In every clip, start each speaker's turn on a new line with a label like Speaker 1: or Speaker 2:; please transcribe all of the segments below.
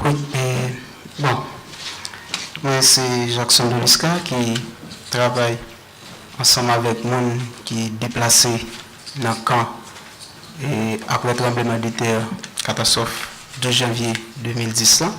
Speaker 1: Wi e bon mwen se Jackson Dolisca ki travay ansanm avèk moun ki deplase nan kan e aprè tranbleman de tè katastwòf 12 janvye 2010 lan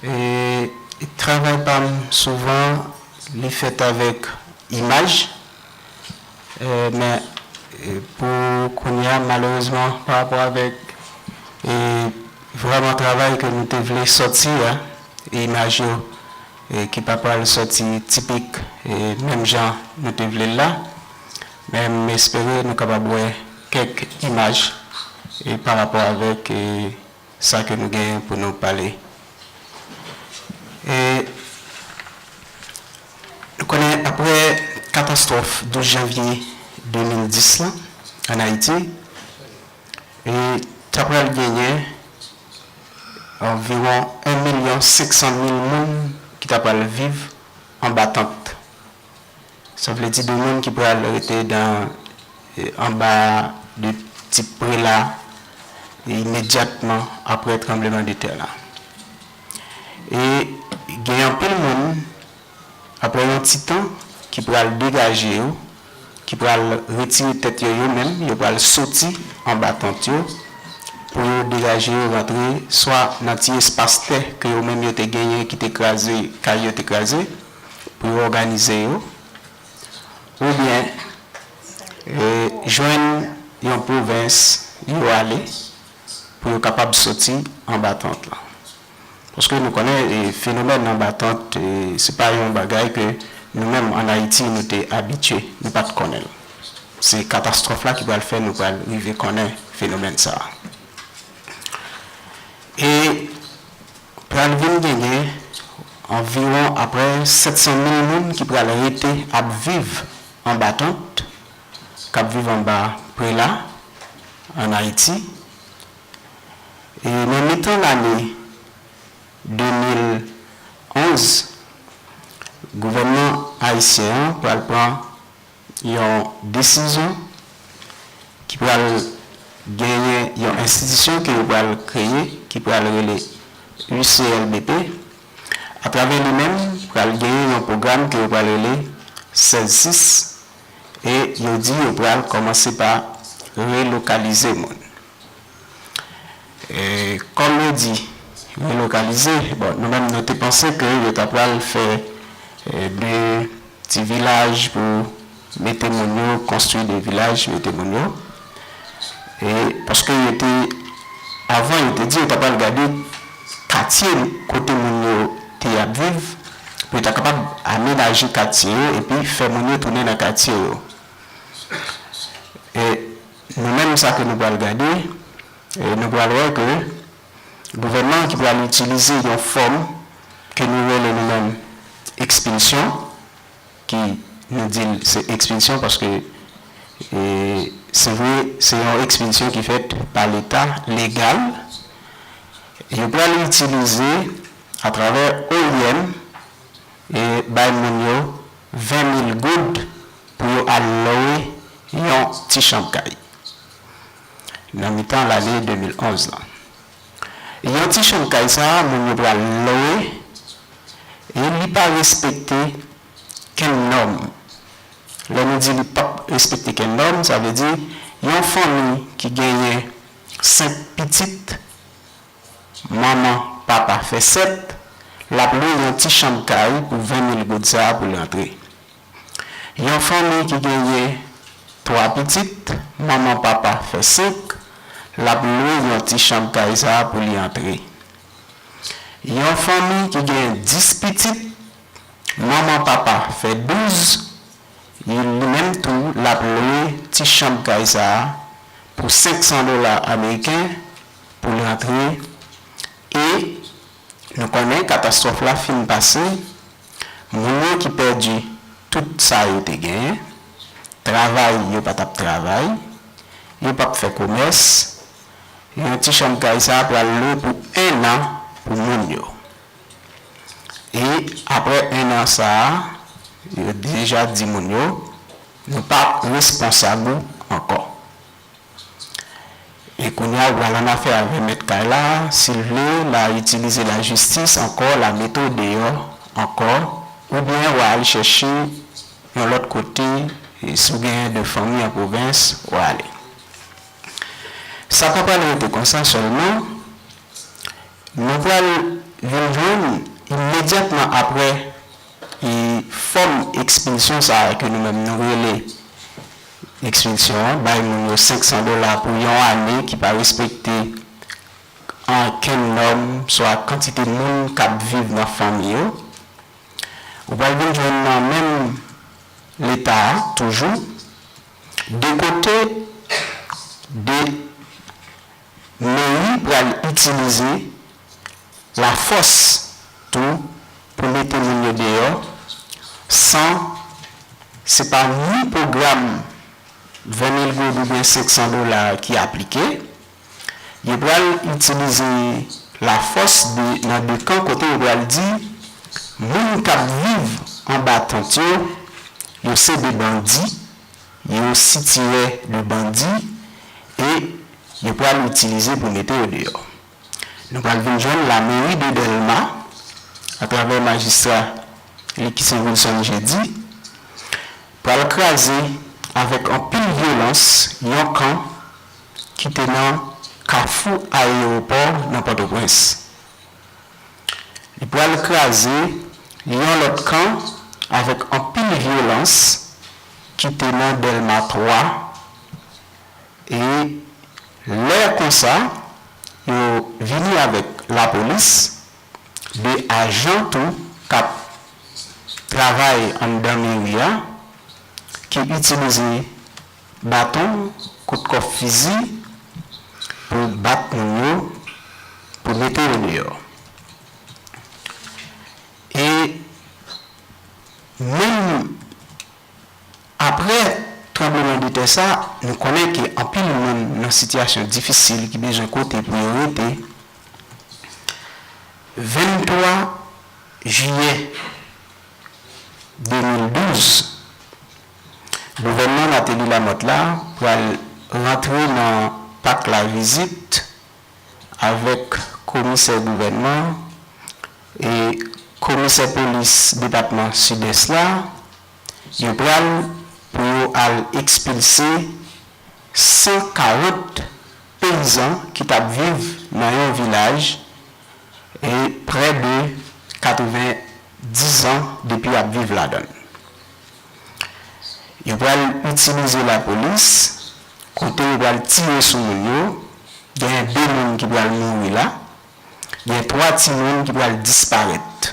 Speaker 1: e travay pam souvan li fèt avèk imaj. Men pou kounye a malerezman pa rapò avèk vrèman travay ke nou te vle sòti a, imaj yo ki pa pral sòti tipik menm jan nou te vle l la. Men m espere nou kapab wè kèk imaj pa rapò avèk sa ke nou genyen pou nou pale. E nou konnen apre katastwòf 12 janvye 2010 lan an Ayiti, e ta pral genyen anviwon 1 milyon 500 mil moun ki ta pral viv anba tant. Sa vle di de moun ki pral rete dan anba de tip prela imedyatman apre tranbleman de tè la. E gen anpil moun apre yon ti tan ki pral degaje yo, ki pral retire tèt yo yo menm, yo pral soti anba tant yo pou yo degaje yo rantre swa nan ti espas tè ke yo menm yo te genyen ki te kraze, kay yo te kraze, pou yo òganize yo oubyen jwenn yon pwovens yo ale pou yo kapab soti anba tant lan. Paske nou konnen fenomèn anba tant se pa yon bagay ke nou menm an Ayiti nou te abitye, nou pa t konnen l. Se katastwòf la ki pral fè nou pral rive konnen fenomèn sa a. E. Pral vin genyen anviwon aprè 700 mil moun ki pral rete ap viv anba tant, k ap viv anba prela ann Ayiti. E nan mitan lane 2011, gouvènman ayisyen an pral pran. Yon desizyon ki pral genyen yon enstitisyon ke yo pral kreye ki pral rele UCLBP. Atravè li menm pral genyen yon pwogram ke yo pral rele Sèz Sis e yo di yo pral kòmanse pa relokalize moun. Kòm yo di relokalize, bon nou menm nou te panse ke yo ta pral fè de ti vilaj pou mete moun yo, konstwi de vilaj mete moun yo. E paske yo te, avan yo te di yo ta pral gade katye kote moun yo te ap viv pou yo ta kapab amenaje katye yo epi fè moun yo tounen nan katye yo. Nou menm sa ke nou pral gade, nou pral wè ke gouvènman an ki pral itilize yon fòm ke nou rele nou menm ekspilsyon, ki nou di l se ekspilsyon paske se vre se yon ekspilsyon ki fèt pa leta legal, yo pral itilize atravè oim bay moun yo 20 mil goud pou yo al lwe yon ti chanb kay nan mitan lane 2011 lan. Yon ti chanb kay sa moun yo pral lwe e li pa respekte kenn nòm. Lè nou di li pap respekte kenn nòm, sa vle di yon fanmi ki genyen 5 pitit Manman, papa fè 7, l ap lwe yon ti chanm kay pou 20 mil goud sa a pou l antre. Yon fanmi ki genyen 3 pitit, manman, papa fè 5, l ap lwe yon ti chanm kay sa a pou li antre. Yon fanmi ki genyen 10 pitit, manman, papa fè 12, li menm tou l ap lwe ti chanm kay sa a pou 500 dola ameriken pou l antre e nou konnen katastwòf la fin pase, moun yo ki pèdi tout sa yo te genyen, travay yo pa t ap travay, yo p ap fè komès, yon ti chanm kay sa pral lwe pou ennan pou moun yo. E aprè ennan sa a, yo deja di moun yo, nou pa responsab ou ankò. E kounya ou pral annafè avè mèt kay la, si l vle la itilize lajistis ankò, la mete w deyò ankò, oubyen wa al chèche yon lòt kote, si w gen de fanmi an pwovens, wa ale. Sa pa pral rete konsa sèlman, nou pral vin jwenn imedyatman aprè fòm ekspilsyon sa a ke nou menm nou rele Ekspilsyon an bay moun yo 500 dola pou yon ane ki pa respekte ankenn nòm swa kantite moun k ap viv nan fanmi yo. Ou pral vin jwenn nan menm Leta a toujou de kote de meri pral itilize. lafòs tou pou mete moun yo deyò san se pa ni pwogram 20 mil goud oubyen 500 dola ki aplike. Yo pral itilize lafòs nan de kan kote yo pral di moun k ap viv anba tant yo, yo se de bandi, yo sitirè de bandi e yo pral itilize pou mete yo deyò. Nou pral vin jwenn lameri de Dèlma atravè majistra li ki se Wilson Jeudy pral kraze avèk anpil vyolans yon kan ki te nan kafou ayewopò nan Pòtoprens. Li pral kraze yon lòt kan avèk anpil vyolans ki te nan Dèlma 3. E lè konsa yo vini avèk lapolis, 2 ajan tou k ap travay anndan meri a ki itilize baton, kout kòf fizi pou bat moun yo pou mete yo deyò. E menm. Aprè tranbleman de tè sa, nou konnen ke anpil moun nan sitiyasyon difisil ki bezwen kote pou yo rete. 23 jiyè 2012, gouvènman Martelly Lamothe la pral rantre nan Pak Lavizit avèk komisè gouvènman e komisè polis depatman Sidès la, Yo pral pou yo al ekspilse 140 peyizan ki tap viv nan yon vilaj e prè de 90 an depi yap viv ladann. Yo pral itilize lapolis kote yo pral tire sou moun yo, genyen 2 moun ki pral mouri la, gen 3 timoun ki pral disparèt.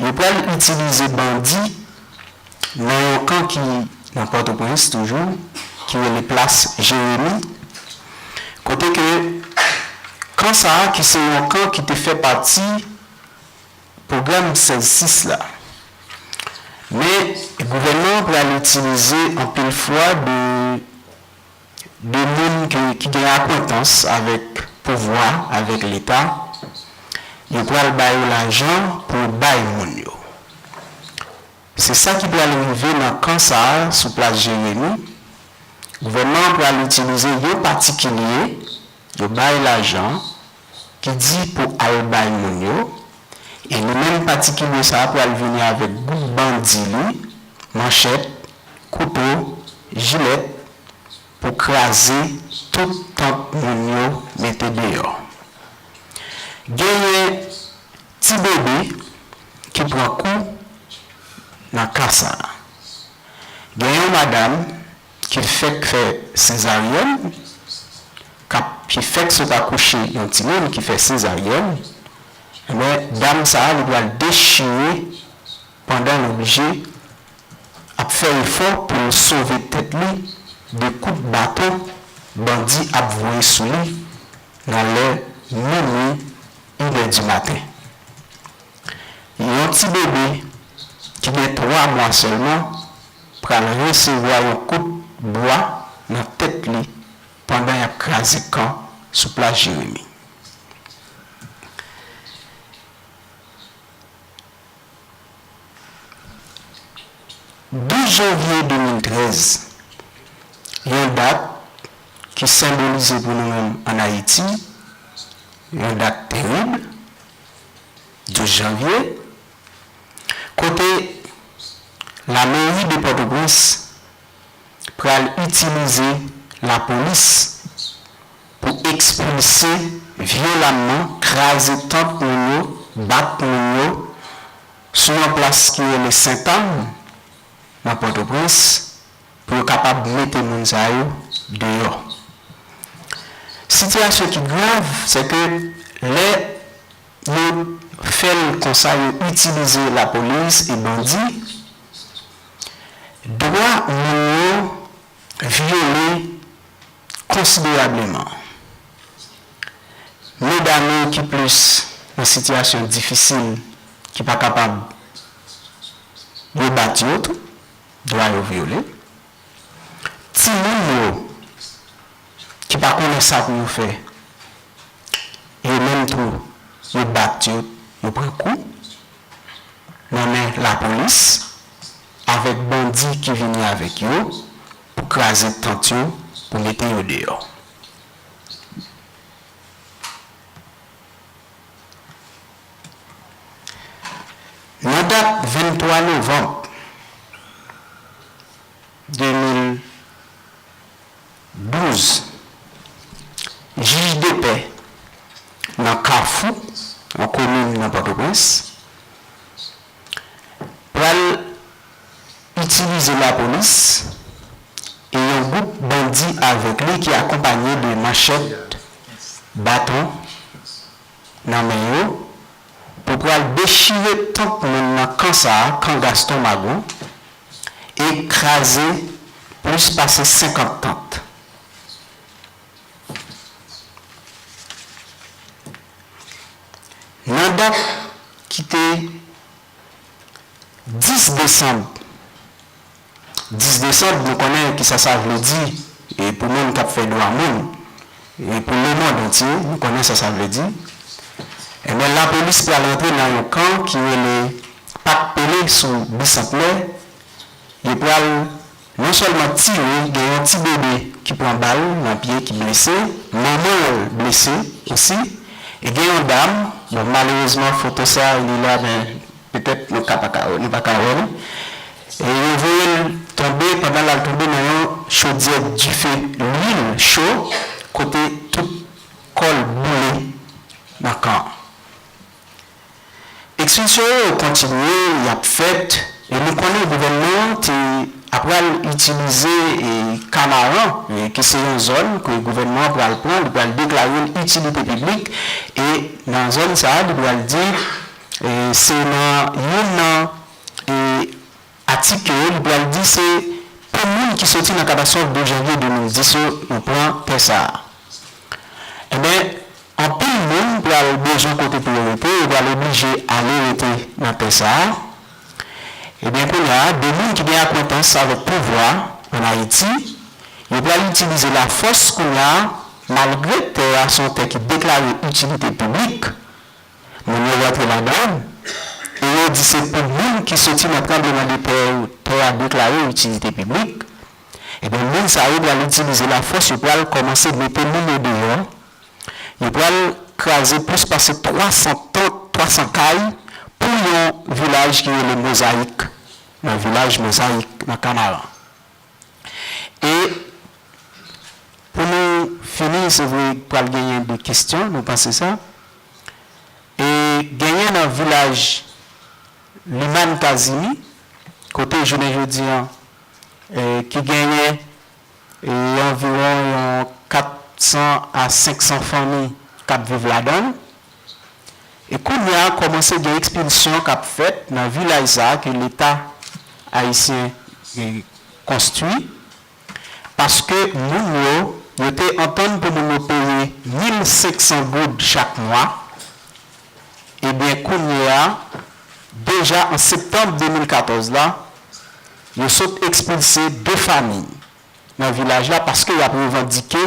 Speaker 1: Yo pral itilize bandi nan yon kan ki nan Pòtoprens toujou, ki rele Plas Jeremi, kote ke kan sa a ki se yon kan ki te fè pati pwogram 16 sis la. Men gouvènman an pral itilize anpil fwa de. 2 moun ki gen akwentans avèk pouvwa, avèk leta, yo pral ba yo lajan pou yo bay moun yo. Se sa ki pral rive nan kan sa a sou plas Jeremi, gouvènman an pral itilize yon patikilye, yo bay lajan, ki di pou al bay moun yo, e li menm patikilye sa a pral vini avèk gwoup bandi li, manchèt, kouto, jilèt, pou kraze tout tant moun yo mete deyò. Genyen ti bebe ki pran kou nan ka sa a. Gen yon madam. ki fèk fè sezaryèn, k ap, ki fèk sot akouche yon timoun ki fè sezaryèn, enben dam sa a li pral dechire pandan l oblije ap fè efò pou l sove tèt li de kout baton bandi ap voye sou li nan lè minui, inè di maten. Yon ti bebe ki gen 3 mwa sèlman. pral resevwa yon kout bwa nan tèt li pandan y ap kraze kan sou plas Jeremi. Douz janvye 2013, yon dat ki senbolize pou nou menm ann Ayiti yon dat terib, 12 janvye. Kote La mairie de Port-au-Prince pral itilize la polis pou ekspilse vyolamman, kraze tant moun yo, bat moun yo sou yon plas ki rele Sentàn nan Port-au-Prince pou yo kapab mete moun sa yo deyò. Sitiyasyon ki grav se ke lè. Yo fel konsa yo itilize la polis e bandi dwa moun yo vyole konsiderableman medam yo ki plis nan sitiyasyon difisil ki pa kapab yo bat yo tou dwa yo vyole timoun yo ki pa konnen sa pou yo fè, yo menm tou yo bat yo, yo pran kou nan men lapolis avèk bandi ki vini avèk yo pou kraze tant yo, pou mete yo deyò. Nan dat 23 novanm, 2012, jij depè nan Kafou, yon komin nan Pòtoprens, pral itilize lapolis e yon gwoup bandi avèk li ki akonpanye de manchèt, baton nan men yo, Ou pral dechire tanp moun nan kan sa a, kan Gaston Mago, e kraze plis pase 50 tant. Nan dat ki te 10 desanm. 10 desanb nou konnen kisa sa vle di pou moun kap fè dwa moun e pou lemond antye nou konnen sa sa vle di enben lapolis pral antre nan yon kan ki rele pat pele sou bisantnè yo pral non sèlman tire gen yon ti bebe ki pran bal nan pye ki blese manmanl blese osi e gen yon dam bon malerezman foto sa li la men Petèt nou ka pa ka wè, nou pa ka wè li. E yo voye l tonbe pandan l al tonbe nan yon chodyè dife lwil cho kote tout kò l boule nan kan an. Ekspilsyon yo kontinye, y ap fèt e nou konnen gouvènman an te apral itilize Kamaran ki se yon zòn ke gouvènman an pral pran, li pral deklare l itilite piblik e nan zòn sa a li pral di Se nan youn nan atik yo, li pral di se pou moun ki soti nan katastwòf 12 janvye 2010 yo nou pran tè sa a. Enben, anpil moun pral bezwen kote pou yo rete, yo pral oblije ale rete nan tè sa a. Enben, kounye a, de moun ki gen akwentans avèk pouvwa ann Ayiti, yo pral itilize lafòs kounye a, malgre tè a se yon tè ki deklare itilite piblik, Moun yo rantre ladan l e yo di se pou moun ki soti nan tranbleman de tè yo tè a deklare itilite piblik, ebyen moun sa yo pral itilize lafòs yo pral kòmanse mete moun yo deyò, yo pral kraze plis pase 300 tant, 300 kay pou yon vilaj ki rele Mozayik nan vilaj Mozayik nan Kanaran. E pou nou fini se vre pral genyen de kestyon nou panse sa. E genyen nan vilaj Limann Kazimi, kote jounen jodi an ki genyen anviwon yon 400 a 500 fanmi k ap viv ladan l. E kounye a kòmanse gen ekspilsyon k ap fèt nan vilaj sa a ke leta ayisyen konstwi. paske moun yo, yo te antann pou moun yo peye 1500 goud chak mwa, ebyen kounye a, deja an septanm 2014 la, yo sot ekspilse 2 famiy nan vilaj la paske y ap revandike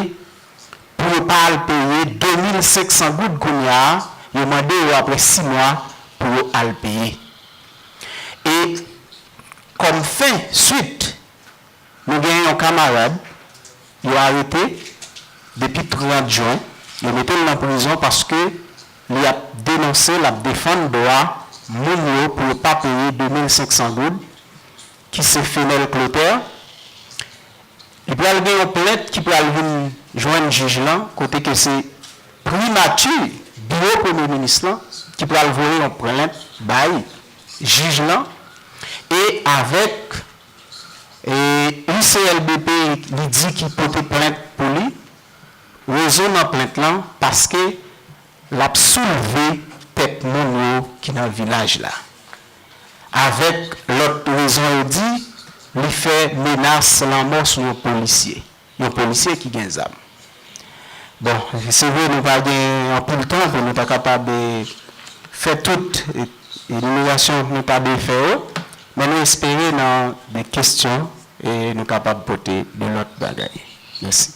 Speaker 1: pou yo pa al peye 2500 goud kounye a, yo mande yo aprè 6 mwa pou yo al peye. E kòm fen, swit, Nou gen yon kamarad yo arete depi 30 jwen, yo mete l nan prizon paske li ap denonse, l ap defann dwa moun yo pou yo pa peye 2 mil 500 goud ki se Fenel Clotaire. Li pral gen yon plent ki pral vin jwenn jij lan kote ke se primati, biwo premye minis lan ki pral voye yon plent bay jij lan e avèk Li se LBP li di ki pote plent pou li, rezon nan plent lan paske lap soulve tèt moun yo ki nan vilaj la. Avèk lòt rezon yo di li fè menas lanmò sou yon polisye. Yon polisye ki gen zam. Bon, se vre nou pa gen anpil tan pou nou ta kapab fè tout enimerasyon nou ta dwe fè yo, men nou espere nan de kesyon nou kapab pote de lòt bagay. Mèsi.